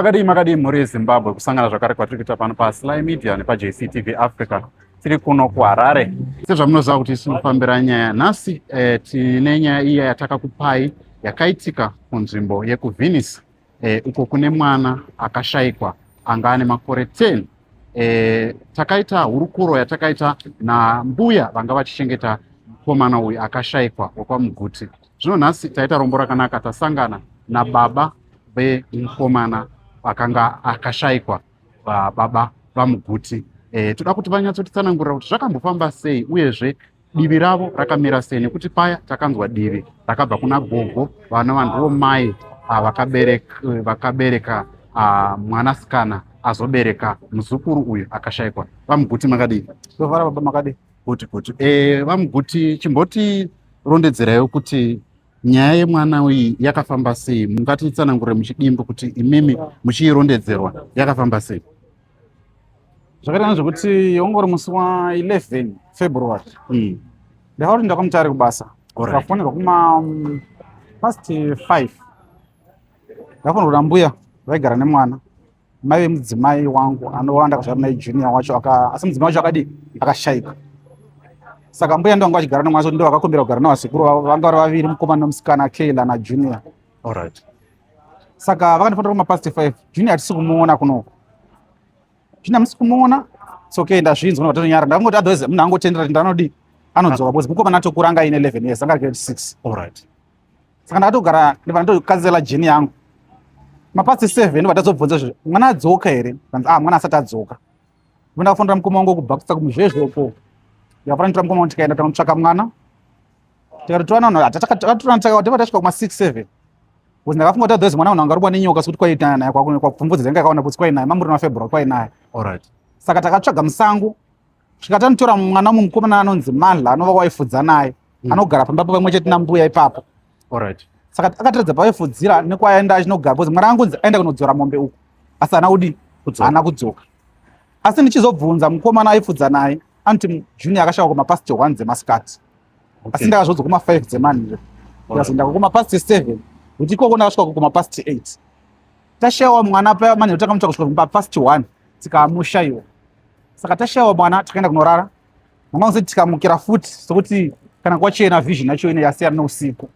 Makadii makadii mhuri yeZimbabwe kusangana zvakare kwatiri kuita pano paSly Media nepaJCTV Africa tiri kuno kuHarare. Sezvamunoziva kuti tinofambira nyaya nhasi eh, tine nyaya iya yatakakupai yakaitika kunzvimbo yekuVenice eh, uko kune mwana akashaikwa anga ane makore 10 eh, takaita hurukuro yatakaita nambuya vanga vachichengeta mukomana uyu akashaikwa wekwaMuguti Zvino nhasi taita rombo rakanaka, tasangana nababa vemukomana akanga akashaikwa baba vamuguti. E, toda kuti vanyatsotitsanangurira kuti zvakambofamba sei uyezve divi ravo rakamira sei nekuti paya takanzwa divi rakabva kuna gogo vana vandivo mai ah, vakabereka, vakabereka ah, mwanasikana azobereka muzukuru uyu akashaikwa. Vamuguti makadii? Tovara baba makadii? Kuti kuti eh, vamuguti chimboti rondedzerayo kuti nyaya yemwana iyi yakafamba sei mungatitsanangure muchidimbo kuti imimi muchiirondedzerwa yakafamba sei zvakaitana zvekuti ongori musi wa 11 february mm. ndakati ndakamutari kubasa ndakafonera kuma mm, past 5 ndakafonera kuda mbuya vaigara nemwana mai vemudzimai wangu anova ndakazvara naye junior wacho asi mudzimai wacho akadii akashaika saka mbuya ndo vanga vachigara nomwe asi ndo vakakumbira kugara navasekuru vavo vanga vari vaviri mukomana nomusikana kayla najunior allright saka vakandifonera kumapast five junior hatisi kumuona kunoko junior musi kumuona sokey ndazvinzwa novatonyara ndakangoti otherwise munhu angotendera kuti ndanodii anodzoka bcause mukomana atokuranga aine eleven years anga ari grade six allright saka ndakatogara ndibva ndatokanzela jeni yangu mapasi seven ndibva tazobvunza zve mwana adzoka here kanzi ah mwana asati adzoka ivo ndakafonera mukoma wangu kubhakisa kumuzvezvoko ndikafonera nditora mukoma wangu tikaenda takamutsvaka mwana tikatotorana vanhu takatorana takawa tiba tasvika kuma six seven bcause ndakafunga kuti otherwise mwana vanhu angarubwa nenyoka sokuti kwaitana naye kwapfumvudza dzanga yakaona kuti kwainaye mamuri na february kwainaye saka takatsvaga musango Svika tanotora mwana umwe mukomana anonzi Manhla anova waifudza naye. Mm. Anogara pamba pamwe chete nambuya ipapo. All right. Saka akatiradza paifudzira nekwaenda achinogara because mwana angonzi aenda kunodzora mombe uko. Asi ana udi ana kudzoka. Asi ndichizobvunza mukomana aifudza naye anti Junior akashaka kuma past 1 dzemasikati. Okay. Asi ndakazodzoka kuma 5 dzemanhla. Ndikazoenda kuma past 7 kuti ikoko ndakasvika kuma past 8. Tashawa mwana paya manhla takamutaka kusvika kuma past 1 tikamushaiwa. saka tashayawo mwana takaenda kunorara mama kusati tikamukira futi sokuti kana kwachena vision yacho ine yasiyana neusiku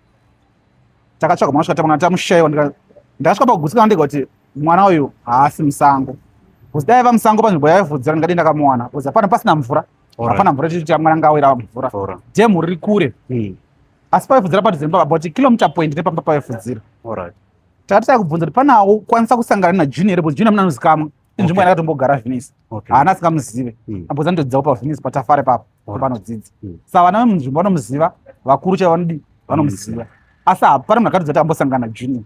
takatsvaga mwana svika tamushaiwa ndakasvika pakugutsikana ndega kuti mwana uyu haasi musango bcause dai va musango panzvimbo yaivudzira ndingadi ndakamuwana bcause hapana pasina mvura hapana mvura tichiti mwana anga awira mvura dhemu riri kure hmm. asi paifudzira padhuze nepapa but kilomita point nepamba paifudzira takati takubvunza kuti panawo kwanisa kusangana najunior bcause junior muna anozikamwa inzvimbo okay. yakatombogara venice okay. haana asikamuzive mm. amboza ndodzidzawo pavenice patafare papo right. panodzidza mm. sa vana vemunzvimbo vanomuziva vakuru chaivo vanodii vanomuziva mm. asi hapana munhu akatodza kuti ambosangana junior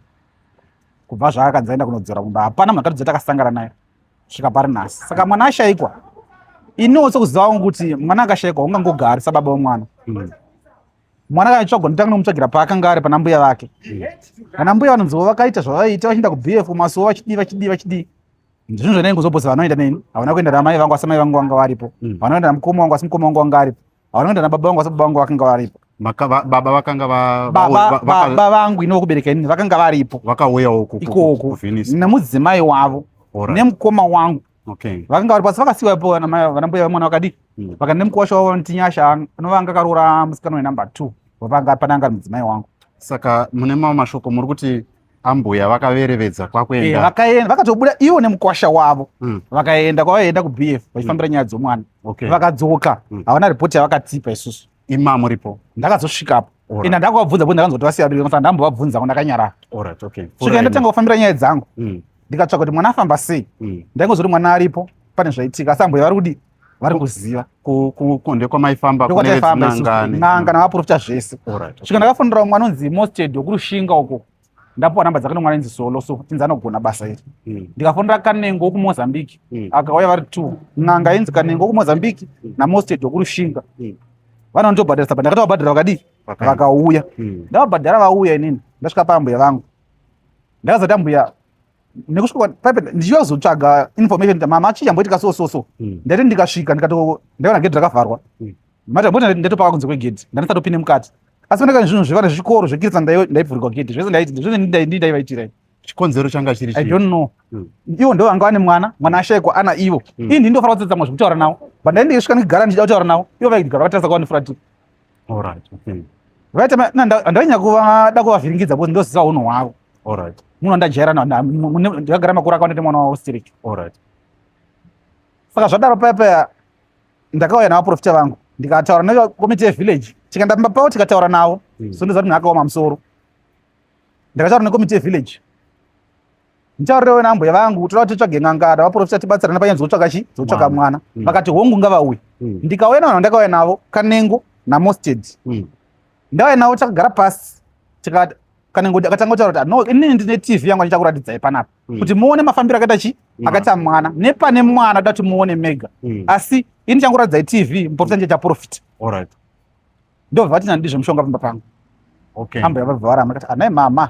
kubva zvaakanzi aenda kunodzora kumba hapana munhu akatodza kuti akasangana naye svika pari nhasi saka mwana ashaikwa iniwo sekuziva wangu kuti mwana akashaikwa ungangogari sababa wemwana mm. mwana kana chitsvagwa nditanga nomutsvagira paakanga ari pana mbuya vake kana mbuya vanonzivo vakaita zvavaiita vachienda kubf kumasuwo vachidii vachidii vachidii zvinhu zvanai ngozobhosa vanoenda neni havana kuenda namai vangu asi mai vangu vanga varipo mm. havana kuenda namukoma wangu asi mukoma wangu wanga aripo havana kuenda nababa vangu asi baba vangu vakanga varipo baba vakanga baba vangu ino vokubereka inini vakanga varipo vakauyawo ikoko namudzimai wavo nemukoma wangu Okay. Vakanga vari pasi vakasiwa ipo vana mai vana mbuya vemwana vakadi. Mm. Vakane mukwasha wavo vanoti Nyasha anovanga karora musikana wenumber 2. Vapanga pananga mudzimai wangu. Saka mune mamwe mashoko muri kuti ambuya vakaverevedza kwakuenda. Eh, vakaenda vakatobuda ivo nemukwasha wavo. Mm. Vakaenda kwavaenda kuBF vachifambira mm. nyaya dzomwana. Okay. Vakadzoka. Mm. Havana report yavakatipa isusu. Ima muripo. Ndakazosvika apo. Ina ndakavabvunza kuti ndakanzwa kuti vasiya biko saka ndambovabvunza ndakanyara. Alright, okay. Svika ndatanga kufambira nyaya dzangu. Mm. Ndikatsvaka kuti mwana afamba sei. Mm. Ndaingozoti mwana aripo pane zvaitika asi ambuya vari kudi vari kuziva kunde kwamaifamba kunenanga navaprofita zvese svika ndakafonera umwe anonzi mosted wekurushinga uko ndapuwa namba dzake nomwana inzi solo so tinzi anogona basa iri hmm. ndikafonera kanengo wokumozambique hmm. akauya vari two n'anga inzi kanengo wokumozambique hmm. namosted wokurushinga vanondobhadharisa but ndakati vabhadhara vakadii vakauya ndavabhadhara vauya inini ndasvika paambuya vangu ndakazati ambuya nekusvika paipe ndichiyozotsvaga information kuti mama chii chamboitika so so so hmm. ndaiti ndikasvika ndikato ndaiona gedhi rakavharwa hmm. mati amboti ndaitopaka kunze kwegedhi ndandisatopinde mukati asi panekani zvinhu zvevana zvikoro zvekirisa ndaivhurikwa gedhi zvese ndaivaitira chikonzero changa chiri i don't know hmm. ivo ndo vanga vane mwana mwana ashaikwa ana ivo ini ndindofanira kutsatsamwa zvekutaura navo but ndaindiisvika ndikigara ndichida kutaura navo ivo vaikigara vatarisa kwavandifuratira Alright, okay. Right, andainya kuva da kuvavhiringidza because ndoziva hunhu hwavo. Alright. Munhu andajaira na ndagara makura akaona ndi mwana wavo still. Alright. Saka zvadaro paya paya ndakauya na vaprofita vangu ndikataura na committee village tikaenda pamba pavo tikataura navo mm. so ndoziva kuti munhu akaoma musoro ndakataura na committee village ndichaurewo nambuya vangu toda kuti titsvage n'anga kana vaprofita tibatsirane panyaya dzokutsvaka chi dzokutsvaka mwana mm. vakati hongu ngavauye mm. ndikauya navanhu ndakauya navo kanengo namosted mm. ndauya navo takagara pasi tikati kanengo akatanga kutaura kuti ah, no inini ndine tv yangu andichakuratidzai panapa kuti muone mafambiro akaita chi akaita mwana nepane mwana toda kuti muone mega asi ini chankuratidzai tv muprofita ndichaita profita ndobva vati nandidi zvemushonga pamba pangu okay. hamba yava bva varamba kati anai mama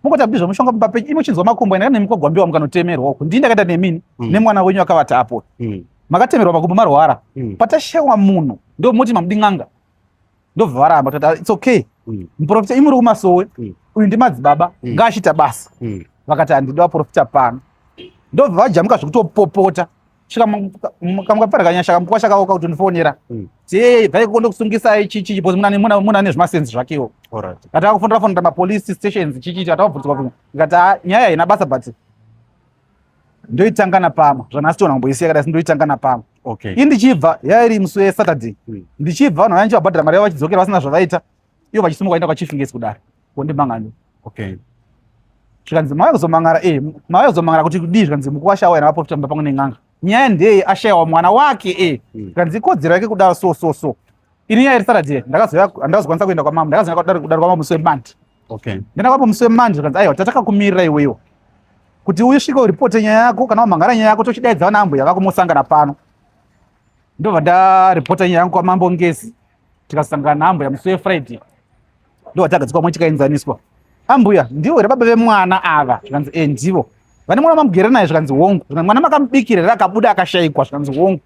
mukoti abdi zvemushonga pamba penyu imi uchinzwa makumbo enda nemukogwambiwa mukanotemerwa uku ndii ndakaita nemini mm. nemwana wenyu akavata apo mm. makatemerwa makumbo marwara mm. patashewa munhu ndomoti mamudi n'anga ndobva varamba tati ah, its okay mm. muprofita imuri kumasowe mm. uyu ndimadzibaba mm. ngaachita basa mm. vakati handidi vaprofita pano ndobva vajamuka zvekutopopota svika kamukapfarikanya shaka mukwa shaka uka utondifonera hmm. sei dai kukonde kusungisai chichi because muna muna muna nezvi masense zvakewo alright ati akufonera fonera ma police stations chichi ati akubvunzwa kuti ngati ah, nyaya ina basa but ndoitanga na pama zvana sitona kumboisiya kada sindoitanga na pama okay indichibva yairi muswe saturday hmm. ndichibva vanhu vanje vabhadhara mari yavo vachidzokera vasina zvavaita iyo vachisimuka enda kwachief ngesi kudari wondimangano okay zvikanzi mauya kuzomangara e eh, mauya kuzomangara kuti kudii zvikanzi mukuru ashaiwa ena vaprofita mumba pamwe nen'anga nyaya ndeye ashaiwa mwana wake e eh. hmm. zvikanzi ikodzero yake kudaro so so so ini nyaya iri saturday ndakazokwanisa kuenda kwamama ndakazoenda kudari kwamama musi wemandi okay ndenda kwamama musi wemandi zvikanzi aiwa tatakakumirira iwewo kuti usvike uripote nyaya yako kana wamhangara nyaya yako tochidaidza vana ambuya vako mosangana pano ndobva ndaripota nyaya yangu kwamambo ngezi tikasangana naambuya musi wefriday ndowatagadzikwa mwe tikaenzaniswa ambuya ndivo here baba vemwana ava zvikanzi e ndivo vane mwana mamugere naye zvikanzi hongu zvikanzi mwana makamubikira here akabuda akashayikwa zvikanzi hongu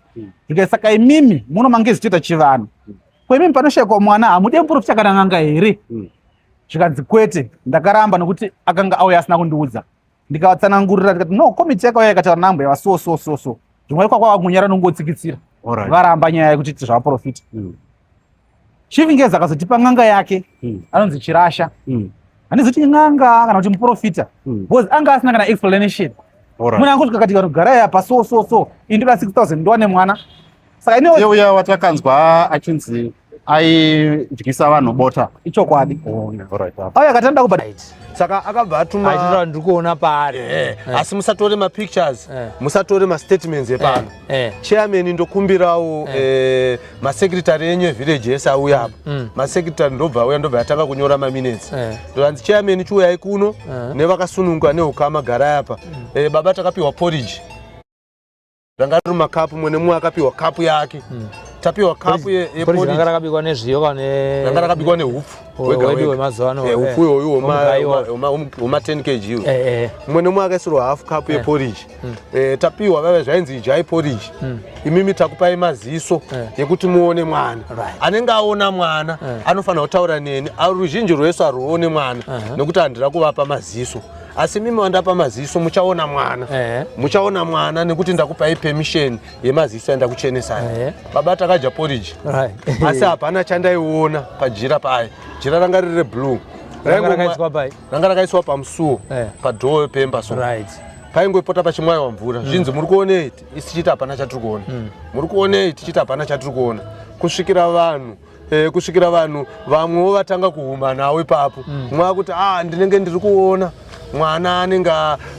zvikanzi saka imimi muno mange zichiita chivanhu ko imimi panoshayikwa mwana hamude muprofita akananganga here zvikanzi kwete ndakaramba nokuti akanga auya asina kundiudza ndikavatsanangurira tikati no komiti yakauya yakataura nambo yava so so so so zvimwe ikwa kwava kunyara nongotsikitsira varamba nyaya yekuti iti zvavaprofita mm. chief ngezi akazotipa n'anga yake mm. anonzi chirasha mm. handizoti n'anga kana kuti muprofita because anga asina kana explanation munhu angoti kakati kanogara yapa so so so indoda 6000 ndowane mwana saka inewe yeuya watakanzwa achinzi aidyisa vanhu bota ichokwadi oh, auya akati anoda kuba saka akabva atuma ndiri kuona paari eh, eh. asi musatore mapictures eh. musatore mastatements epano chairman ndokumbirawo masecretary enyu evillage ese auya apa mm, mm. masecretary ndobva auya ndobva atanga kunyora maminutes ndoanzi chairman chiuyai kuno nevakasununga neukama garai apa mm. baba takapiwa porridge ranga riri makapu mwe nemumwe akapiwa kapu yake mm. tapiwa kapu yeporanga rakabikwa nezviyo kane ranga rakabikwa nehupfu wedu wemazuva ano eh, upfu iwoyu wema 10 kg iwo eh, eh. mumwe nemumwe akaisirwa hafu kapu yeporiji mm. tapiwa vave zvainzi idyai poriji mm. imimi takupai maziso yekuti muone mwana anenge aona mwana anofanira kutaura neni ruzhinji rwese arwuone mwana uh-huh. nekuti handira kuvapa maziso asi mimi wandapa maziso muchaona mwana eh. muchaona mwana nekuti ndakupai permission yemaziso yandakuchenesai eh. baba takadya porridge right. asi hapana chandaiona pajira paye jira ranga riri reblue ranga rakaiswa pamusuwo eh. padhoo pemba so right paingopota pachimwaiwa mvura hmm. zvinzi muri kuonei tichiti hapana chatiri kuona hmm. muri kuonei tichiti hapana chatiri kuona kusvikira vanhu e, kusvikira vanhu vamwewo vatanga kuhumanawo ipapo mm. mwava kuti a ah, ndinenge ndiri kuona mwana anenge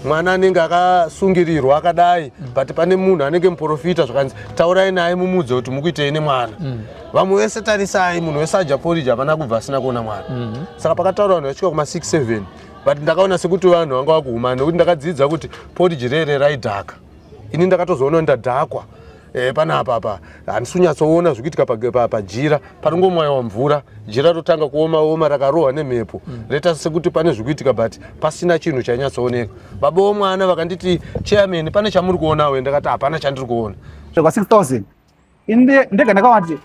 mwana anenge akasungirirwa akadai mm. but pane munhu anenge muprofita zvakanzi taurai naye mumudze kuti mukuitei nemwana mm. vamwe vese tarisai munhu wese aja poriji hapana kubva asina kuona mwana mm -hmm. saka pakataura vanhu vasvika kuma 67 but ndakaona sekuti vanhu vanga vakuhumana nekuti ndakadzidza kuti poriji rere raidhaka ini ndakatozoona ndadhakwa Eh, pana apa apa handisi kunyatsoona zviri kuitika pajira panongomwayiwa mvura jira rotanga kuoma oma rakarohwa nemhepo mm. reta sekuti pane zviri kuitika but pasina chinhu chainyatsooneka baba vomwana vakanditi chairman pane chamuri kuonawe ndakati hapana chandiri kuona zvekwa 6000 ndega ndakavati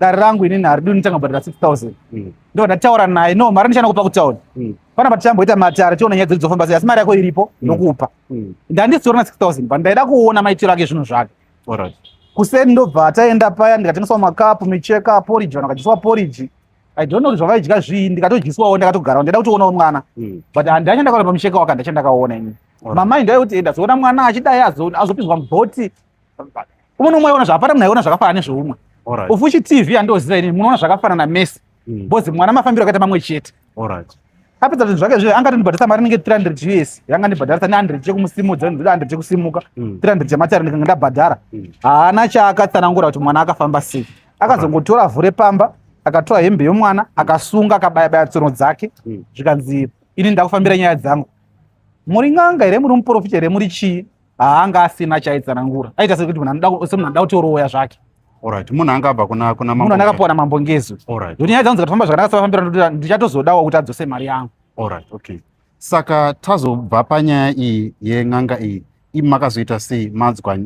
dare rangu inini haridi nditanga bhadhara 6000 mm. ndo ndataura naye no mari ndichana kupa kutauni mm. pana patichamboita matare tiona nyaya dzedu dzofamba sei asi mari yako iripo ndokupa mm. ndandizitorina 6000 but ndaida kuona maitiro ake zvinhu zvake right. kuseni ndobva ataenda paya ndikatengeswa makapu micheka poriji vanhu vakadyiswa poriji i don't know kuti zvavaidya zvii ndikatodyiswawo ndakatogarawo ndaida kutoonawo mwana mm. but handacha ndakaona pamucheka waka ndacha ndakaona ini right. mamai ndaikuti enda zoona mwana achidai azopinzwa mubhoti umwe nomwe aiona zvapara munhu aiona zvakafanana nezveumwe ufuchi tv andoziva ini munoona zvakafanana mese hmm. bcause mwana mafambiro akaita mamwe chete apedza zvinhu zvake zve anga tondibhadharisa mari inenge 300 us yanga ndibhadharisa ne100 chekumusimudza 100 chekusimuka 300 hmm. chematari ndikanga ndabhadhara hmm. haana chaakatsanangura kuti mwana akafamba sei akazongotora vhu repamba akatora hembe yomwana akasunga akabayabaya tsono dzake zvikanzi ini ndakufambira nyaya dzangu muri n'anga here muri muprofita here muri chii haanga asina chaitsanangura aita sekuti munhu anoda semunhu anoda kuti oroya zvake Alright, munhu anga abva kuna kuna mambo. Munhu anga akapuwa na mambo Ngezu. Alright. Nyaya dzangu dzikafamba zvakanaka safambira ndoda ndichatozodawo kuti adzose mari yangu. Alright, okay. Saka tazobva panyaya iyi yen'anga iyi imakazoita sei madzwa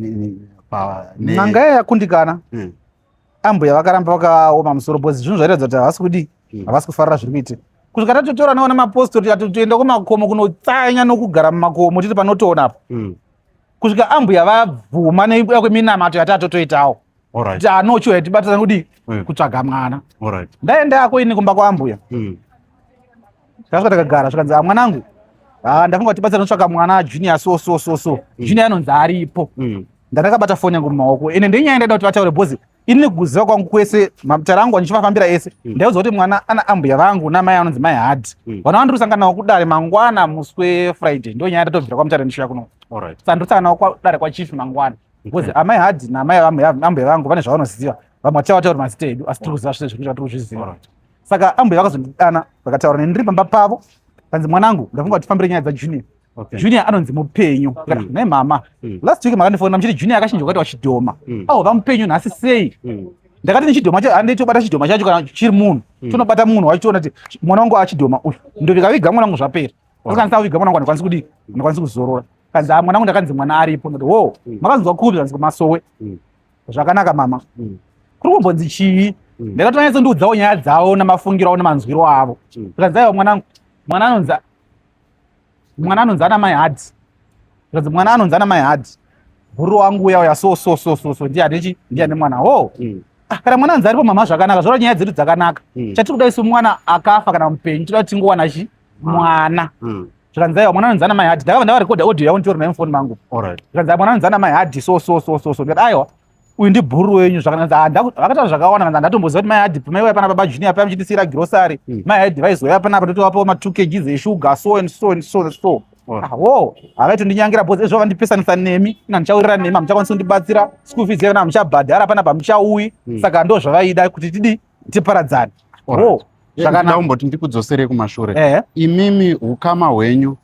pa n'anga yakundikana. Hmm. ambuya vakaramba vakaoma musoro bcoz zvinhu zvairatidza kuti havasi kudii hmm. havasi kufarira zviri kuitika kusvika tatotora nawo nemapostori ati toenda kumakomo kunotsanya nokugara mumakomo tiri panotoona apa hmm. kusvika ambuya vabvuma neuya kweminamato yati atotoitawo kuti anochiwa yatibatirana kudii hmm. kutsvaga mwana ndaenda ako ini kumba kwaambuya tasvika takagara zvikanzi amwanangu ah, ah, ndafunga kuti tibatsira notsvaka mwana junior so so so so junior anonzi aripo Ndakabata foni yangu mumaoko ende ndenyaya ndaida kuti vataure bhozi ini nekuziva kwangu kwese matara angu andichivafambira ese hmm. ndaiudzwa kuti mwana ana ambuya vangu namai anonzi mai hard hmm. vana vandiri kusangana navo kudare mangwana musi wefriday ndo nyaya ndatobvira kwamutara ndishuya kuno saka ndiri kusangana navo kudare kwachief mangwana bcause hmm. amai hard namai ambuya vangu vane zvavanoziva vamwe vachava vataura mazita edu asi tiri kuziva zvese zvekuti vatiri kuzviziva saka ambuya vakazondidana vakataura nendiri pamba pavo kanzi mwanangu ndafunga kuti fambire nyaya dzajunior Okay. Junior anonzi mupenyu mm. ne mama mm. last week makandifona muchiti Junior akachinja kwati wachidhoma mm. awo vamupenyu nhasi sei mm. ndakati nechidhoma chacho handei tobata chidhoma chacho kana chiri munhu mm. tonobata munhu wachitoona kuti mwana wangu achidhoma uyu ndovikaviga mwana wangu zvapera oh. akanisa kuviga mwana wangu andikwanisi kudii mm. andikwanisi kuzorora kanzi ah, mwana wangu ndakanzi mwana aripo ndati wo mm. makanzwa kupi kanzi kumasowe mm. zvakanaka mama mm. kuri kumbonzi chii mm. ndakatonyatsondiudzawo nyaya dzavo namafungiro avo namanzwiro avo mm. kanzi aiwa mwana wangu mwana anonzi mwana anonzi ana mai hadhi zvikanzi mwana anonzi ana mai hadhi guru wangu uya uya so so so so so ndiye anechi ndiye ane mwana ho oh. mm. ah, kana mwana anzi aripo mama zvakanaka zvoda nyaya dzedu dzakanaka mm. chatiri kuda isu mwana akafa kana mupenyu tinoda kuti tingowana chi mwana mm. zvikanzi aiwa mwana anonzi ana mai hadhi ndakava ndavarekodha audio yavo nditori nayo mufoni mangu zvikanzi mwana anonzi ana mai hadhi so so so so so ndikati aiwa uyu ndibhuru wenyu zvakavakataura zvakawanda kana ndatomboziva kuti mai adip mai waya pana baba junior paya muchitisiyira girosari hmm. mai adip vaizoya panapa totovapawo matwo kg zeshuga so and so and so so hmm. ah, wo havaitondinyangera bhozi ezvo vandipesanisa nemi ina ndichaurira nemi hamuchakwanisi kundibatsira school fees yevana hamuchabhadhara pana pamuchauyi hmm. saka ndo zvavaida kuti tidi tiparadzane wo zvakanaumboti ndikudzoserei kumashure imimi ukama hwenyu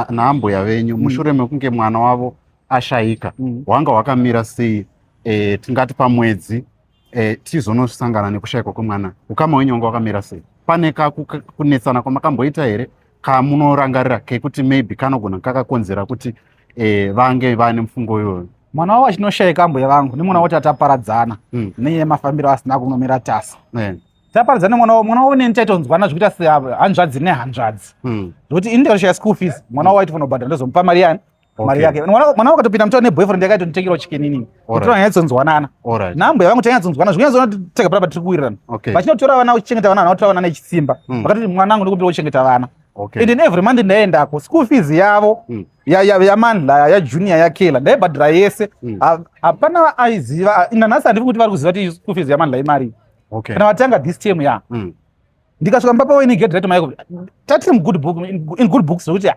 naambuya venyu mushure mekunge mwana wavo ashaika mm. hwanga hwakamira sei e, tingati pamwedzi e, tizonosangana nekushaikwa kwemwana ukama wenyu wanga wakamira sei pane kakunetsana kwamakamboita here kamunorangarira kekuti maybe kanogona kakakonzera kuti e, vange vane mufungo iyoyo mwana wavo achinoshaika ambuya vangu nemwana woti ataparadzana mm. neye mafambiro asina kunomira tasa yeah taparidza nemwana wavo mwana wavo neni taitonzwana zvekuita sehanzvadzi nehanzvadzi hmm. zvekuti indirasha yaschool fees mwana wavo aitofanira kubhadhara ndozomupa mari yani mari yake mwana wakatopinda mutaura neboyfriend yake aitonditengerawo chicken inini kutora nyaya dzonzwanana nhambo yavangu tanyaya dzonzwanana zvikunyazoona tega pata tiri kuwirirana vachinotora vana uchichengeta vana vanotora vana nechisimba hmm. vakatoti mwana wangu ndikumbira uchengeta vana and in every month ndaiendako school fees yavo hmm. yamanla yajunior yakela ndaibhadhira yese hmm. hapana aiziva nanhasi handivi kuti vari kuziva ti school fees yamanla imarii kana vatanga this term ya ndikasvika mumba pawe inigedhi raiti maiko tatiri mugood book in good books zvekuti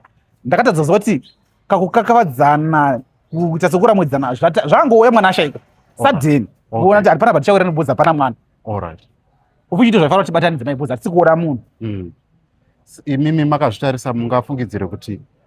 ndakatadza kuziva kuti kakukakavadzana kuita sekuramwidzana zvangouya mwana ashaika sadeni kuona kuti hapana patichaura nobhoza hapana mwana ufuchiito zvaifanira kuti batanidze maibhoza hatisi kuona munhu hmm. imimi makazvitarisa mungafungidzire kuti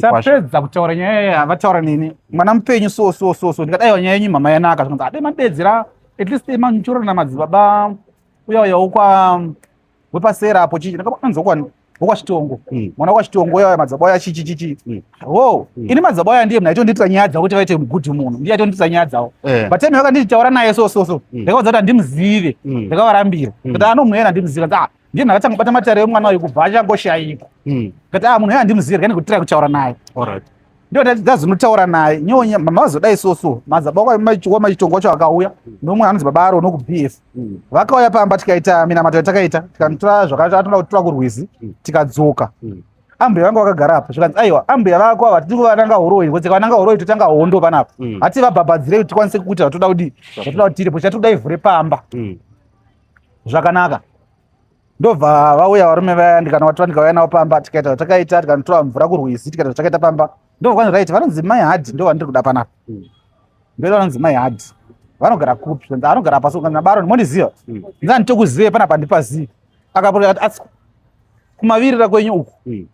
tapedza kutaura nyaya iya vataura neni mwana mupenyu so so so so ndikadaiwa nyaya yenyu mhama yanaka zvikanzi ade madedzera at least manchura namadzibaba uya uya wokwa wepasera apo chichi ndakaanzi wokwani wokwachitongo hmm. mwana wokwachitongo uya uya madzibaba uya chichi chichi hmm. wo hmm. ini madzibaba uya ndiye mnaitondiitira nyaya dzavo kuti vaite good munhu ndiye aitondiitira nyaya dzavo eh. but time yakanditi taura naye so so so ndakaudza kuti handimuzive ndakavarambira kuti anomwena handimuzive ah, ndiye ndakatanga kubata matare emwana uyu kubva achangoshaiko hmm. kati a ah, munhu uyo handimuzivi rega ndikutirai kutaura naye ndiyo ndazinotaura naye nyonya mama vazodai so so madzaba wamachitongo wacho akauya nomwe anonzi baba aro noku b f hmm. vakauya pamba tikaita minamato yatakaita tikanotora zvakaatoda kutora kurwizi hmm. tikadzoka ambuya vanga vakagara apa zvikanzi aiwa ambuya vako ava tiri kuvananga horoi ngozi kavananga horoi totanga hondo panapa hati vabhabhadzirei kuti tikwanise kukuita vatoda kudii vatoda kuti tiripo chatikuda ivhure pamba zvakanaka ndobva vauya varume vaya ndikanovatora ndikauya navo pamba tikaita zvatakaita tikanotora mvura kurwizi tikaita zvatakaita pamba ndovakwanza right vanonzi mai hadhi ndo vandiri kuda panapa hmm. ndo vanonzi mai hadhi vanogara kupi anogara pasi kana baron mondiziva hmm. ndani tokuzive pana pandipazivi akapoa asi kumavirira kwenyu uku hmm.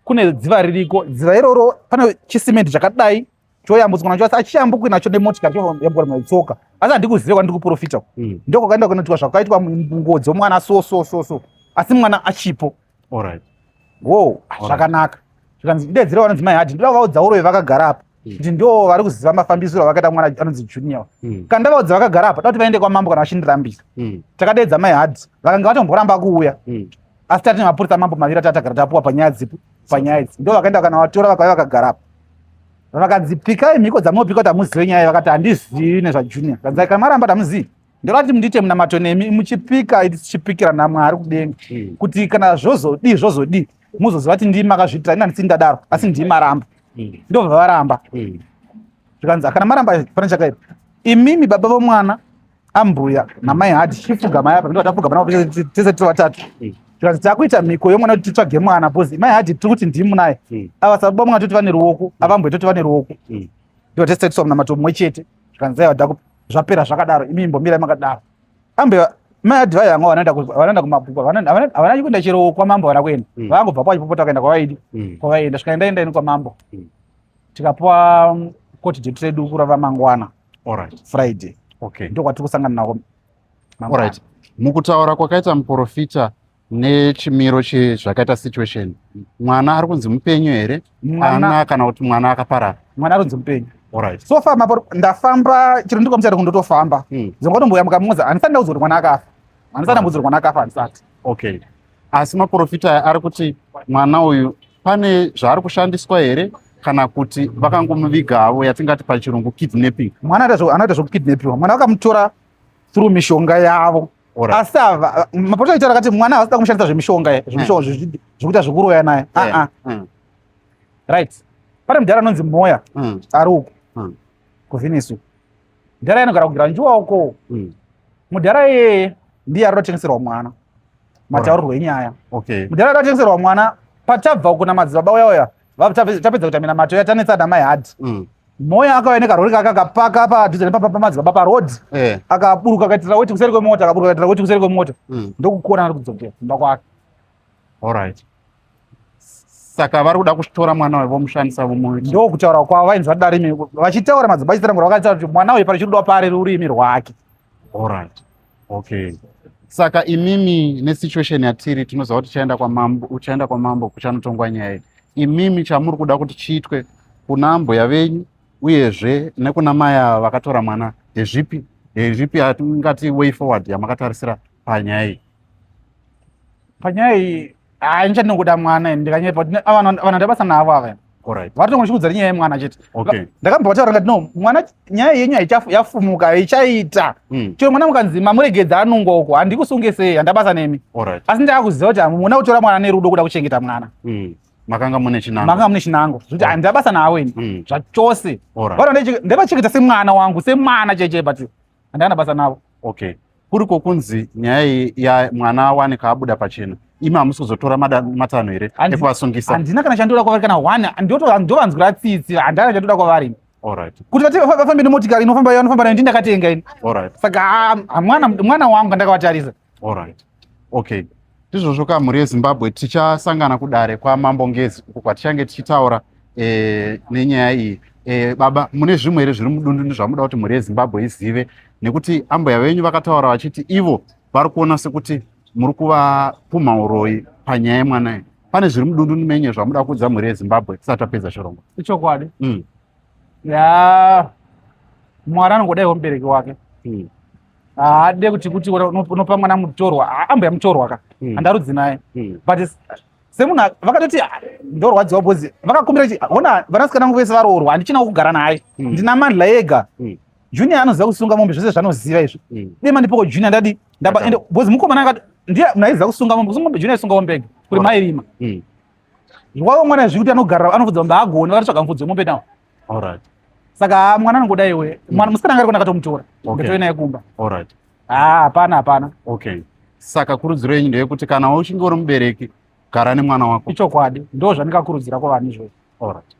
kune dziva ririko dziva iroro pane chisimenti chakadai choyambutswa nacho asi achiyambukwi nacho nemotikari choyambuka nayo tsoka asi handikuzive kwandiri kuprofita ku mm. ndiko kwakaenda kunoitwa zvakaitwa munguo dzomwana so so so so asi mwana achipo wo zvakanaka zvikanzi ndedzira vanonzi mai hadi ndoda vaudza urove vakagara apa mm. kuti ndo vari kuziva mafambisiro avakaita mwana anonzi junior mm. kana ndavaudza vakagara apa tauti vaende kwamambo kana vachindirambisa takadeedza mai hadi vakanga vatomboramba kuuya asi tati nemapurisa mambo maviri atatagara tapuwa panyaya dzipi panyaya idzi ndo vakaenda kana vatora vakauya vakagara apa vakadzi pikai mhiko dzamunopika kuti hamuzive nyaya vakati handizivi nezvajunior kanzai kana maramba kuti hamuzivi ndorati mundiite munamato nemi muchipika tichipikira namwari kudenga hmm. kuti kana zvozodii zvozodii muzoziva kuti ndii makazviitira ina ndisini ndadaro asi ndii maramba hmm. ndobva varamba hmm. zvikanzi kana maramba pane chakaipa imimi baba vomwana ambuya namai hadi chifugamai apa ndinova tafugamana tese tiri vatatu hmm. tikanzi takuita mhiko yomwana kuti titsvage mwana bcause mai hadi tiri kuti ndimu naye hmm. ava sababa mwana toti vane ruoko hmm. avambuya toti vane ruoko ndivo tese tatiswa munamato mumwe chete zvikanzi aiwa daku zvapera zvakadaro imi imbomirai makadaro ambuya mai hadi vaya vanga vanoenda kumabhuku havana kuenda chero kwamambo havana kuenda vangobva kwachipopota vakaenda kwavaidi kwavaenda zvikaenda enda ini kwamambo tikapuwa koti jetu redu kurava mangwana Alright. Friday. Okay. Ndiko kwatiri kusangana nako. Alright. Mukutaura kwakaita muprofita nechimiro chezvakaita situation mwana ari kunzi mupenyu here ana kana kuti mwana akaparara mwana ari kunzi mupenyu Alright. So far mapo ndafamba chiro ndiko mchari kundotofamba. Hmm. Zongwa tomboya mukamuza anisati ndaudzwa kuti mwana akafa. Anisati ndaudzwa kuti mwana akafa anisati. Okay. Asi maporofita aya ari kuti mwana uyu pane zvaari kushandiswa here kana kuti vakangomuviga havo yatingati pachirungu kidnapping mwana anoita zvekukidnapiwa mwana vakamutora through mishonga yavo asi ava maporofita aitaura kati mwana havasida kumushandisa zvemishonga eh. zvemishonga zvekuita zvekuroya naye eh. ah, ah. hmm. right pane mudhara anonzi moya hmm. ari uku hmm. kuvhinisu mudhara anogara kugara njuwa uko mm. mudhara iyeye ndiye ari kutotengeserwa mwana mataurirwo enyaya okay. mudhara ari kutotengeserwa mwana patabva uko namadzibaba uya uya tapedza kuita minamato yatanetsa namai hadi mm. moya akauya nekarori kake akapaka padhuze nepapa pamadzibaba paroad eh. akaburuka akaitira weti kuseri kwemota akaburuka akaitira weti kuseri kwemota mm. ndokukona ari kudzokera kumba kwake Alright. Saka vari kuda kutora mwana uyu vomushandisa vomuita. Ndoo kutaura kwavo vainzwa darimi vachitaura madzibaba chitaramura vakataura kuti mwana uyu pari chinoda pari rurimi rwake. Alright. Okay. Saka imimi ne situation yatiri tinoziva kuti tichaenda kwamambo uchaenda kwamambo kuchanotongwa nyaya iyi. Imimi chamuri kuda kuti chiitwe kuna ambuya venyu uyezve nekuna mai ava vakatora mwana ndezvipi ndezvipi hatingati way forward yamakatarisira panyaya iyi. panyaya iyi haa ini chandinokuda mwana ini ndikanyepa vanhu ndabasa navo ava Alright. Vari tongo chikudza nyaya yemwana chete. Okay. Ndakabva wataura ngati no mwana nyaya yenyu haichafu yafumuka ichaita. Mm. Chero mwana mukanzi mamuregedza anungo uko handikusunge sei handabasa nemi. Alright. Asi ndakakuziva kuti muna kutora mwana nerudo kuda kuchengeta mwana. Mm. Makanga mune chinango. Makanga mune chinango. Zvikuti right. handabasa nawo ini. Mm. Zvachose. Alright. Vana ndevachengeta semwana wangu semwana cheche but handana basa navo. Okay. kuri kwokunzi nyaya iyi ya mwana awanika abuda pachena imi hamusi kuzotora mada- matanho here Handi- ekuvasungisa handina kana chandoda kwavari kana one ndoto- ndovanzwira tsitsi handina kana chandoda kwavari Alright, kuti vati vafa- vafambe nemotikari inofamba yanofamba nayo ndindakatenga ini alright, saka ah, ah, mwana mwana wangu andakavatarisa alright. okay ndizvozvo ka mhuri yezimbabwe tichasangana kudare kwamambo ngezi uko kwatichange tichitaura e, nenyaya iyi e, baba mune zvimwe here zviri mudundundu zvamuda kuti mhuri yezimbabwe izive nekuti ambuya venyu vakataura vachiti ivo vari kuona sekuti muri kuvapumha uroyi panyaya yemwana iyi pane zviri mudundu menye zvamuda kuudza mhuri yezimbabwe tisati tapedza chirongo ichokwadi mm. ya mwari anongodaiwo mubereki wake mm. haade ah, kuti kuti unopa mwana mutorwa ah, ambuya mutorwa ka hmm. handarudzi naye hmm. but semunhu vakatoti ah, ndorwadziwa bhozi vakakumbira kuti hona vanasikana vangu vese varoorwa handichina kugara naye hmm. ndina mandla ega junior anoziva kusunga mombe zvese zvanoziva izvi dei mandipoko junior ndadi ndaba ende bhozi mukomana akati ndiye munhu aiziva kusunga mombe kusunga mombe junior aisunga mombe ega kuri mairima wavo mwana zvekuti anogarira anofudza mombe agoni vakatsvaga mufudzi wemombe nawo Alright. Saka ah, mwana anongoda iwe. Mm. Mwana musikana ngari kunakatomutora. Okay. Nditoi naye kumba. Alright. Ah, hapana hapana. Okay. Saka kurudziro yenyu ndeyekuti kana uchinge uri mubereki gara nemwana wako. Ichokwadi. Ndoo zvandikakurudzira kwavanhu izvozvo. Alright.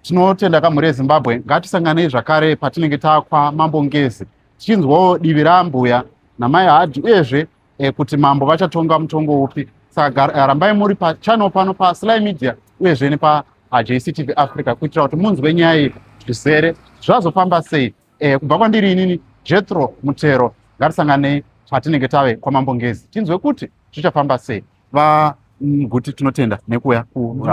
Tinotenda kamhuri yeZimbabwe. Ngatisanganei zvakare patinenge takwa Mambo Ngezi. Tichinzwawo divi rambuya namai Hadhi uyezve e, kuti mambo vachatonga mutongo upi saka eh, rambai muri pachannel pano pasly media uyezve nepajc tv africa kuitira kuti munzwe nyaya iyi zvizere zvazofamba sei e, kubva kwandiri inini jetro mutero ngatisanganei patinenge tave kwamambo ngezi tinzwe kuti zvichafamba sei vaguti mm, tinotenda nekuuya ku